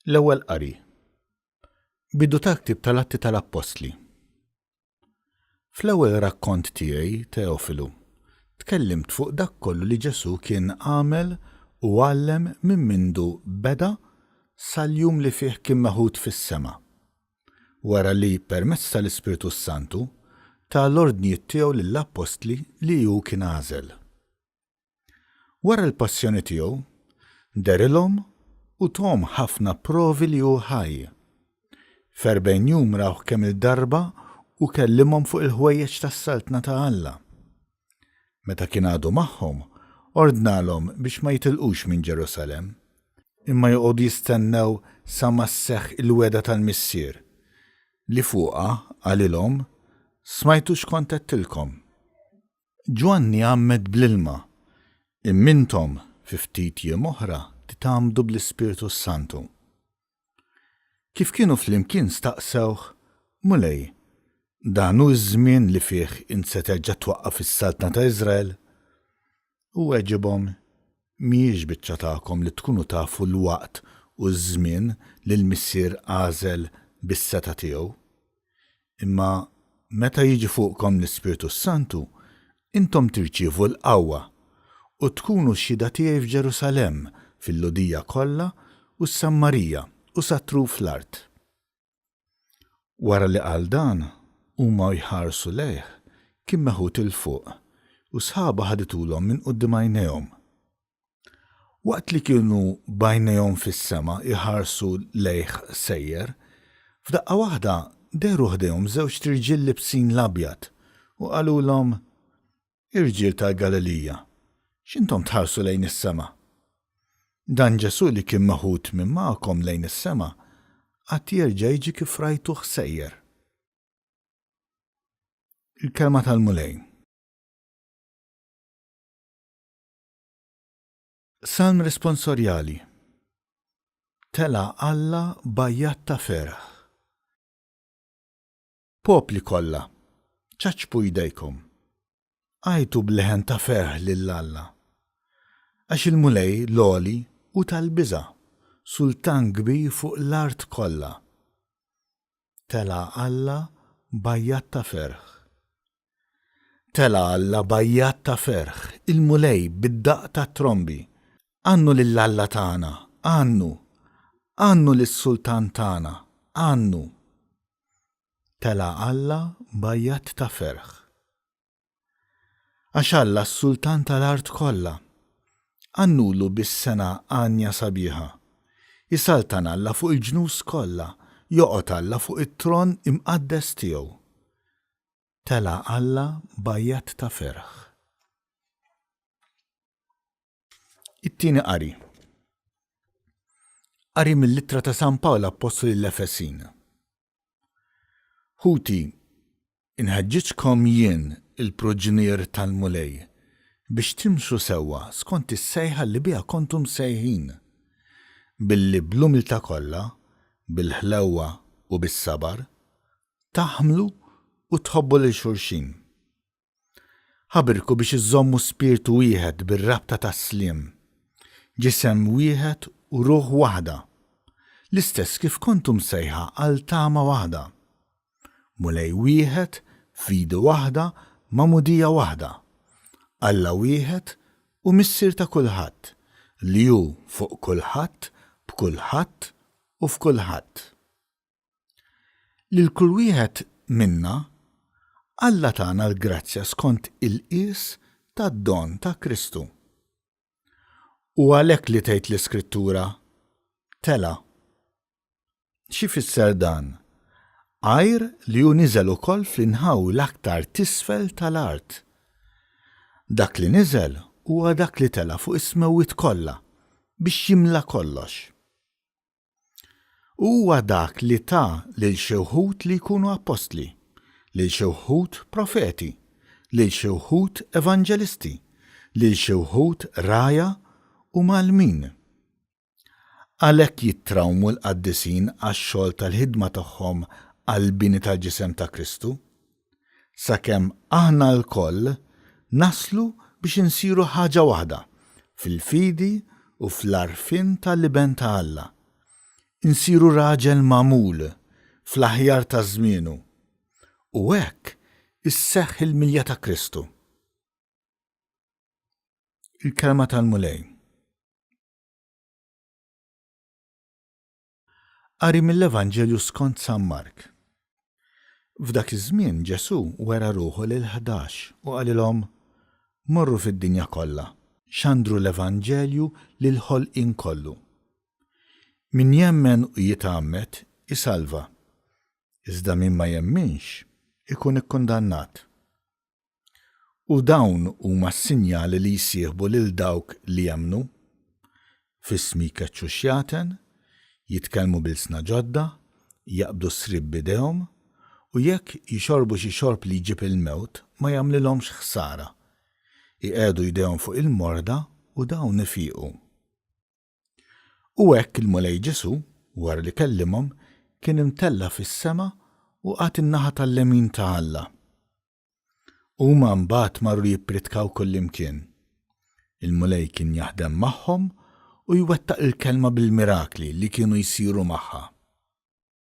L-ewwel qari. Bidu tal-ktieb tal-Atti tal-Appostli. Fl-ewwel rakkont tiegħi, Teofilu, tkellimt fuq dak kollu li Ġesu kien għamel u għallem minn mindu beda sal-jum li fih kien meħud fis-sema. wara li, permezz tal-Ispirtu s-Santu, ta l-ordnijiet tiegħu lill-appostli li hu kien għażel. Wara l-passjoni tiegħu, dehrilhom u thom ħafna provi li hu ħaj. F'erbgħin jum rawh kemm-il darba u kellimhom fuq il-ħwejjeġ tas-Saltna ta' Alla. Meta kien għadu magħhom, ordnalhom biex ma jitilqux minn Ġerusalemm, imma joqogħdu jistennew sa ma sseħħ il-wegħda tal-Missier, li fuqha qalilhom, Smajtu x'kont għedtilkom? Ġwanni għammed bl-ilma, imma intom, fi ftit jiem oħra, titgħammdu bl-Ispirtu s-Santu. Kif kienu flimkien staqsewh, Mulej, dan hu ż-żmien li fih int se terġa' twaqqaf is-saltna ta' Iżrael? Hu weġibhom, Mhijiex biċċa tagħkom li tkunu tafu l-waqt u ż-żmien li l-Missier għażel bis-setgħa tiegħu. Imma meta jiġi fuqkom l-Ispirtu s-Santu, intom tirċievu l-qawwa, u tkunu xhieda tiegħi f'Ġerusalemm, fil-Lhudija kollha u s-Sammarija u sat-truf l-art. Wara li qal dan, huma u jħarsu lejh, kien meħud 'il fuq, u sħaba ħaditulhom minn quddiem għajnejhom. Waqt li kienu b'għajnejhom fis-sema jħarsu lejh sejjer, f'daqqa waħda dehru ħdejhom żewġt irġiel libsin l-abjad u qalulhom, Irġiel tal-Galilija, x'intom tħarsu lejn is-sema? Dan Ġesù li kien meħud minn magħkom lejn is-sema għad jerġa' jiġi kif rajtuh sejjer. Il-Kelma tal-Mulej. Salm Responsorjali Tela' Alla b'għajjat ta' ferħ. Popli kollha, ċaċċpu jdejkom, għajtu b'leħen ta' ferħ lil Alla. Għax il-Mulej l-Għoli hu tal-biża', Sultan kbir fuq l-art kollha. tela' Alla b'għajjat ta' ferħ. Tela' Alla b'għajjat ta' ferħ, il-Mulej bid-daqq tat-trombi. Għannu lil Alla tagħna, għannu! Għannu lis-Sultan tagħna, għannu! Tela' Alla b'għajjat ta' ferħ. Għax Alla s-Sultan tal-art kollha. Għannulu bis-sengħa għanja sabiħa. Isaltan Alla fuq il-ġnus kollha, joqgħod Alla fuq it-tron imqaddes tiegħu. Tela' Alla b'għajjat ta' ferħ. It-Tieni Qari Qari mill-Ittra ta' San Pawl Appostlu lill-Efesin. Ħuti, inħeġġiġkom jien, il-proġnier tal-Mulej, biex timxu sewwa skont is-sejħa li biha kontu msejħin, billi bl-umiltà kollha, bil-ħlewwa u bis-sabar, taħmlu u tħobbu lil xulxin. Ħabirku biex iżżommu spirtu wieħed bir-rabta tas-sliem, ġisem wieħed u ruħ waħda, l-istess kif kontu msejħa għal tama waħda, Mulej wieħed f'idi waħda magħmudija waħda, Alla wieħed u Missier ta' kulħadd, li hu fuq kulħadd, b'kulħadd u f'kulħadd. Lil kull wieħed minna, Alla tana l-grazzja skont il-qies tad-don ta' Kristu. Hu għalhekk li tgħid l-Iskrittura, Tela'. X'ifisser dan? Għajr li hu niżel ukoll fl-inħawi l-aktar t'isfel tal-art. Dak li niżel huwa dak li tela' fuq is-smewwiet kollha biex jimla kollox. U huwa dak li ta lil xi wħud li jkunu appostli, lil xi wħud profeti, lil xi wħud evanġelisti, lil xi wħud ragħajha u mgħallmin. Għalhekk jittrawmu l-qaddisin għax-xogħol tal-ħidma tagħhom għall-bini tal-ġisem ta' Kristu. sakemm aħna lkoll naslu biex insiru ħaġa waħda fil-fidi u fl-għarfien tal-Iben ta' Alla, insiru raġel magħmul fl-aħjar ta' żmienu, u hekk isseħħ il-milja ta' Kristu. Il-Kelma tal-Mulej. Qari mill-Evanġelju skont San Mark. F'dak iż-żmien Ġesù wera ruħu lill-Ħdax u qalilhom, Morru fid-dinja kollha, xandru l-Evanġelju lill-ħolqien kollu. Min jemmen u jitgħammed, isalva, iżda min ma jemminx, ikun ikkundannat. U dawn huma s-sinjali li jsieħbu lil dawk li jemmnu, F'ismi jkeċċu x-xjaten, jitkellmu b'ilsna ġodda, jaqbdu s-sriep b'idejhom, u jekk jixorbu xi xorb li jġib il-mewt ma jagħmlilhomx ħsara. Iqiegħdu jdejhom fuq il-morda u dawn ifiqu. U hekk il-Mulej Ġesù, wara li kellimhom, kien imtella' fis-sema u qagħad in-naħa tal-lemin ta' Alla. Huma mbagħad marru jippritkaw kullimkien. Il-Mulej kien jaħdem magħhom u jwettaq il-kelma bil-mirakli li kienu jsiru magħha.